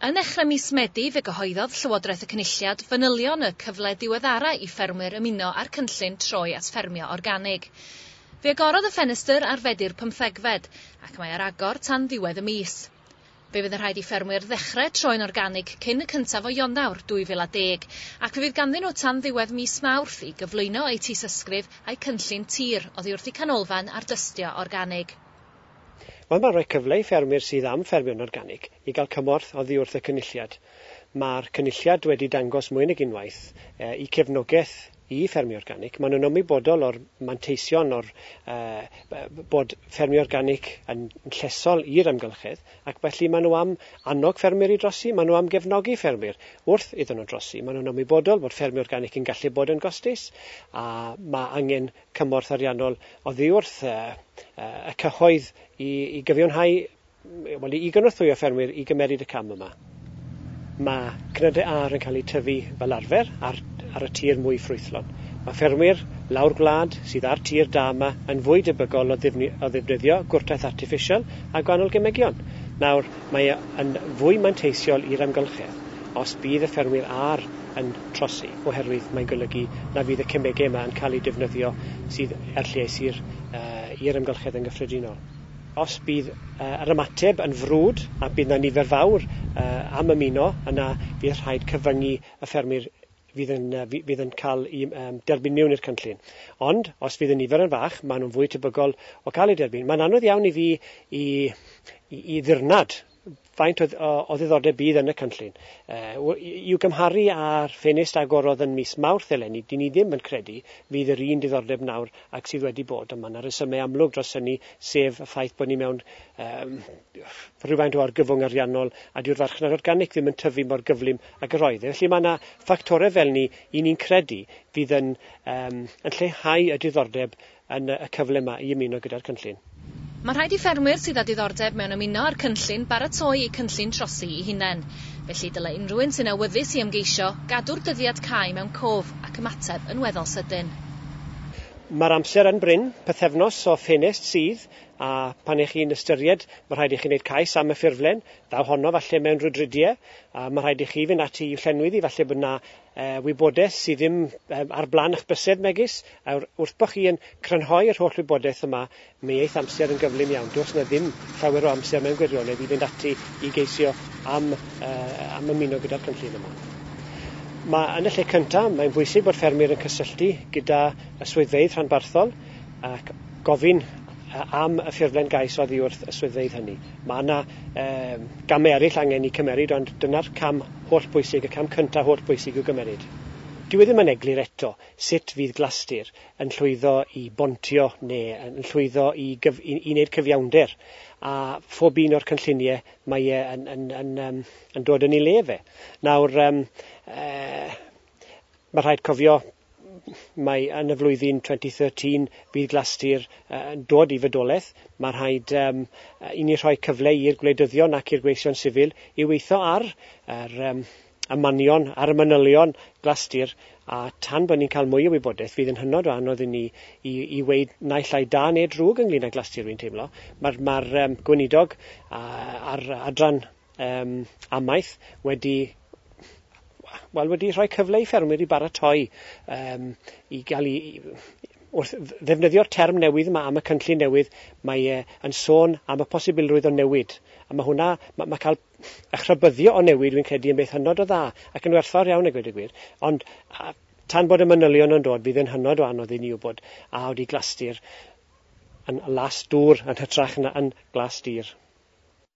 Yn ddechrau mis Medi fe gyhoeddodd Llywodraeth y Cynulliad fanylion y cyfle diweddara i ffermwyr ymuno â'r cynllun troi at ffermio organig. Fe agorodd y ffenestr ar Fedi'r pymthegfed ac mae ar agor tan ddiwedd y mis. Fe fydd yn rhaid i ffermwyr ddechrau troi'n organig cyn y cyntaf o Ionawr 2010, ac fe fydd ganddyn nhw tan ddiwedd mis Mawrth i gyflwyno eu tystysgrif a'u cynllun tir oddi wrth y Canolfan Ardystio Organig. Mae yma'n rhoi cyfle i ffermwyr sydd am ffermio'n organig i gael cymorth oddi wrth y Cynulliad. Mae'r Cynulliad wedi dangos mwy nag unwaith eu cefnogaeth i ffermio organic. Maen nhw'n ymwybodol o'r manteision o'r uh, bod ffermio organic yn llesol i'r amgylchedd ac felly maen nhw am annog ffermwyr i drosi, maen nhw am gefnogi ffermwyr wrth iddyn nhw drosi. Maen nhw'n ymwybodol bod ffermio organic yn gallu bod yn gostus a mae angen cymorth ariannol oddi wrth uh, uh, y cyhoedd i, i gyfiawnhau Wel, i gynorthwyo ffermwyr i gymeryd y cam yma, mae cnydau ar yn cael eu tyfu fel arfer ar, ar y tir mwy ffrwythlon. Mae ffermwyr lawr gwlad sydd â'r tir da yma yn fwy debygol o, ddifni, o ddefnyddio gwrtaith artiffisial a gwahanol gemegion. Nawr, mae e yn fwy manteisiol i'r amgylchedd os bydd y ffermwyr ar yn trosi, oherwydd mae'n golygu na fydd y cemegau yma yn cael eu defnyddio sydd er lles i'r, uh, i'r amgylchedd yn gyffredinol. Os bydd yr ymateb yn frwd a bydd 'na nifer fawr am ymuno, yna bydd rhaid cyfyngu y ffermwyr fydd yn fydd yn cael i derbyn miwn i'r cynllun. Ond, os fydd y nifer yn fach, maen nhw'n fwy tebygol o gael eu derbyn. Mae'n anodd iawn i fi i i ddirnad Faint o, o, o ddiddordeb bydd yn y cynllun? Uh, I'w gymharu â'r ffenest agorodd yn mis Mawrth eleni, dyn ni ddim yn credu fydd yr un diddordeb nawr ac sydd wedi bod, ond mae yna resymau amlwg dros hynny, sef y ffaith bod ni mewn um, rhywfaint o argyfwng ariannol a dyw'r farchnad organic ddim yn tyfu mor gyflym ag yr oedd. E. Felly mae yna ffactorau fel ni i ni'n credu fydd yn, um, yn lleihau y diddordeb yn y cyfle yma i ymuno gyda'r cynllun. Mae'n rhaid i ffermwyr sydd â diddordeb mewn ymuno â'r cynllun baratoi eu cynllun trosi eu hunain. Felly, dylai unrhyw un sy'n awyddus i ymgeisio, gadw'r dyddiad cau mewn cof ac ymateb yn weddol sydyn. Mae'r amser yn brin, pythefnos o ffenest sydd, a phan y'ch chi'n ystyried, mae rhaid i chi wneud cais am y ffurflen, ddaw honno falle mewn rhwydridie, a mae rhaid i chi fynd ati i'w llenwi ddi, falle bod 'na Yy, wybodaeth sydd ddim yym ar blan eich bysedd, megis, a'r wrth bo chi yn crynhoi yr holl wybodaeth yma, mi eith amser yn gyflym iawn. Does 'na ddim llawer o amser mewn gwirionedd i fynd ati i geisio am yy am ymuno gyda'r cynllun yma. Ma', yn y lle cynta', mae'n bwysig bod ffermwyr yn cysylltu gyda y swyddfeydd rhanbarthol ac gofyn yy am y ffurflen gais oddi wrth y swyddfeydd hynny. Mae yna um, gamau eraill angen i cymeryd, ond dyna'r cam holl bwysig, y cam cyntaf holl bwysig i'w gymeryd. Dyw e ddim yn eglur eto sut fydd Glastir yn llwyddo i bontio neu yn llwyddo i, gyf, i, i wneud cyfiawnder a phob un o'r cynlluniau mae e yn, yn, yn, yn, yn dod yn ei le fe. Nawr, um, uh, Mae rhaid cofio mae yn y flwyddyn 2013 bydd Glastir yn dod i fydolaeth. Mae rhaid um, i ni rhoi cyfle i'r gwleidyddion ac i'r gweision sifil i weithio ar yr um, ymanion, ar y manylion Glastir a tan bod ni'n cael mwy o wybodaeth fydd yn hynod o anodd i ni i, i weid naill ai da neu drwg ynglyn â Glastir rwy'n teimlo. Mae'r ma um, gweinidog a'r adran um, amaeth wedi wel wedi rhoi cyfle i ffermwyr i baratoi um, i gael i, wrth ddefnyddio'r term newydd yma am y cynllun newydd, mae e yn sôn am y posibilrwydd o newid. A mae hwnna, mae, mae cael eich rhybyddio o newid, dwi'n credu, yn beth hynod o dda ac yn werthfawr iawn, y gwed y gwir. Ond a, tan bod y manylion yn dod, bydd yn hynod o anodd i ni wybod a wedi glastu'r yn las dŵr yn hytrach na yn glas dir.